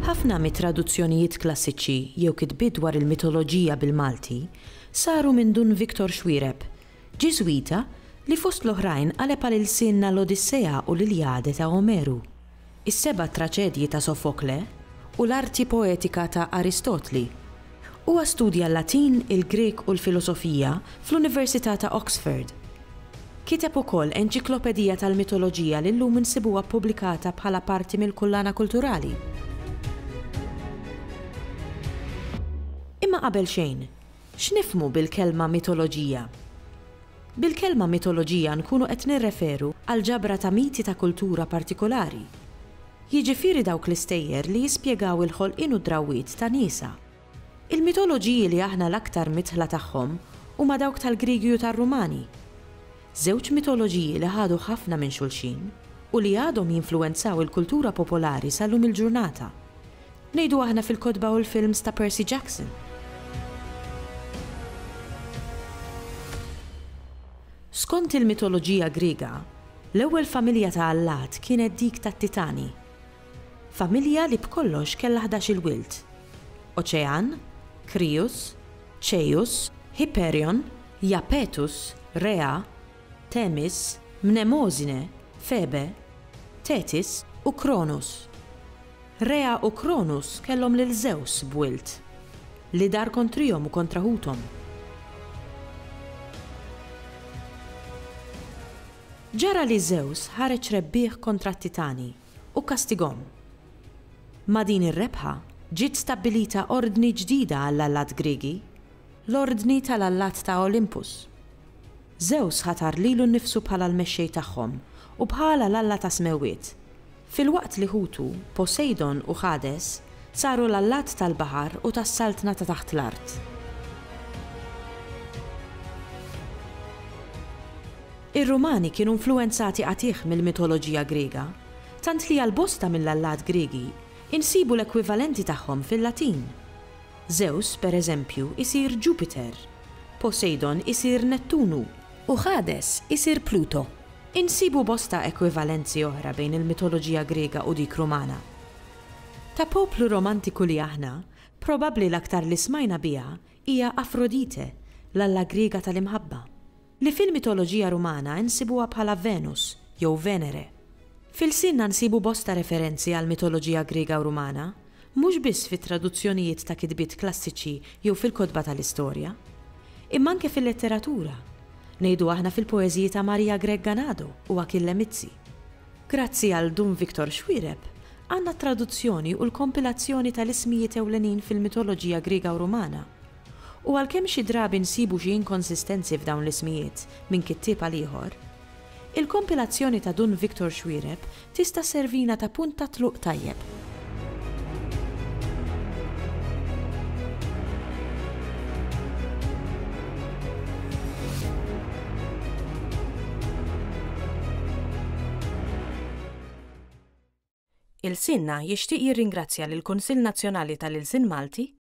Ħafna mit-traduzzjonijiet klassiċi jew kitbiet dwar il-mitoloġija bil-Malti saru minn Dun Victor Xuereb, Ġiżwita li fost l-oħrajn qaleb għal ilsienna l-Odissea u l-Iljade ta' Omeru. is-seba' traċedji ta' Sofokle u l-arti poetika ta' Aristotli. Huwa studja l-Latin, il-Grieg u l-filosofija fl-Università ta' Oxford. Kiteb ukoll enċiklopedija tal-mitoloġija li llum insibuha ppubblikata bħala parti mill-kullana kulturali. Imma qabel xejn, X'nifhmu bil-kelma mitoloġija? Bil-kelma mitoloġija nkunu qed nirreferu għal ġabra ta' miti ta' kultura partikolari. Jiġifieri dawk l-istejjer li jispjegaw il-ħolqien u d-drawwiet ta' niesha. Il-mitoloġiji li aħna l-aktar midħla tagħhom huma dawk tal-Griegi u tar-Rumani. Żewġ mitoloġiji li ħadu ħafna minn xulxin u li għadhom jinfluwenzaw il-kultura popolari sal-lum il-ġurnata. Ngħidu aħna fil-kotba u l-films ta' Percy Jackson. Skont il-mitoloġija Griega, l-ewwel familja ta' allat kienet dik tat-Titani. Familja li b'kollox kellha ħdax-il wild, Oċean, Krius, Ċejus, Hyperion, Japetus, Rhea, Themis, Mnemosyne, Febe, Thetis u Cronus. Rea u Kronus kellhom lil Żews b'wild, li dar kontrihom u kontra ħuthom. Ġara li Żews ħareġ rebbieħ kontra t-Titani u kkastigahom. Ma' din ir-rebħa ġiet stabbilita ordni ġdida għall-allat Griegi, l-Ordni tal-Allat ta' Olympus. Żews ħatar lilu nnifsu bħala l-mexxej tagħhom u bħala l-alla tas-smewwiet, filwaqt li ħutu, Posejdon u Ħades, saru l-allat tal-baħar u tas-saltna ta' taħt l-art. Ir-Rumani kienu influwenzati qatigħ mill-mitoloġija Griega, tant li għal bosta mill-allat Griegi, insibu l-ekwivalenti tagħhom fil-Latin. Żews, per eżempju, isir Ġupiter, Posejdon isir Nettunu, u Ħades isir Pluto. Insibu bosta ekwivalenzi oħra bejn il-mitoloġija Griega u dik Rumana. Ta' poplu romantiku li aħna, probabbli l-aktar li smajna biha hija Afrodite, l-alla Griega tal-imħabba. Li fil-mitoloġija Rumana insibuha bħala Venus, jew Venere. F'ilsienna nsibu bosta referenzi għall-mitoloġija Griega u Rumana, mhux biss fit-traduzzjonijiet ta' kitbiet klassiċi jew fil-kotba tal-istorja. Imma anke fil-letteratura. Ngħidu aħna fil-poeżiji ta' Maria Grech Ganado u Achille Mizzi. Grazzi għal Dun Victor Xuereb, għandna t-traduzzjoni u l-kompilazzjoni tal-ismijiet ewlenin fil-mitoloġija Griega u Rumana. U għalkemm xi drabi nsibu xi inkonsistenzi f'dawn l-ismijiet minn kittieb għal ieħor, il-kompilazzjoni ta' Dun Victor Xuereb tista' sservina ta' punt ta' tluq tajjeb. Ilsienna jixtieq jirringrazzja lill-Kunsill Nazzjonali tal-Ilsien Malti,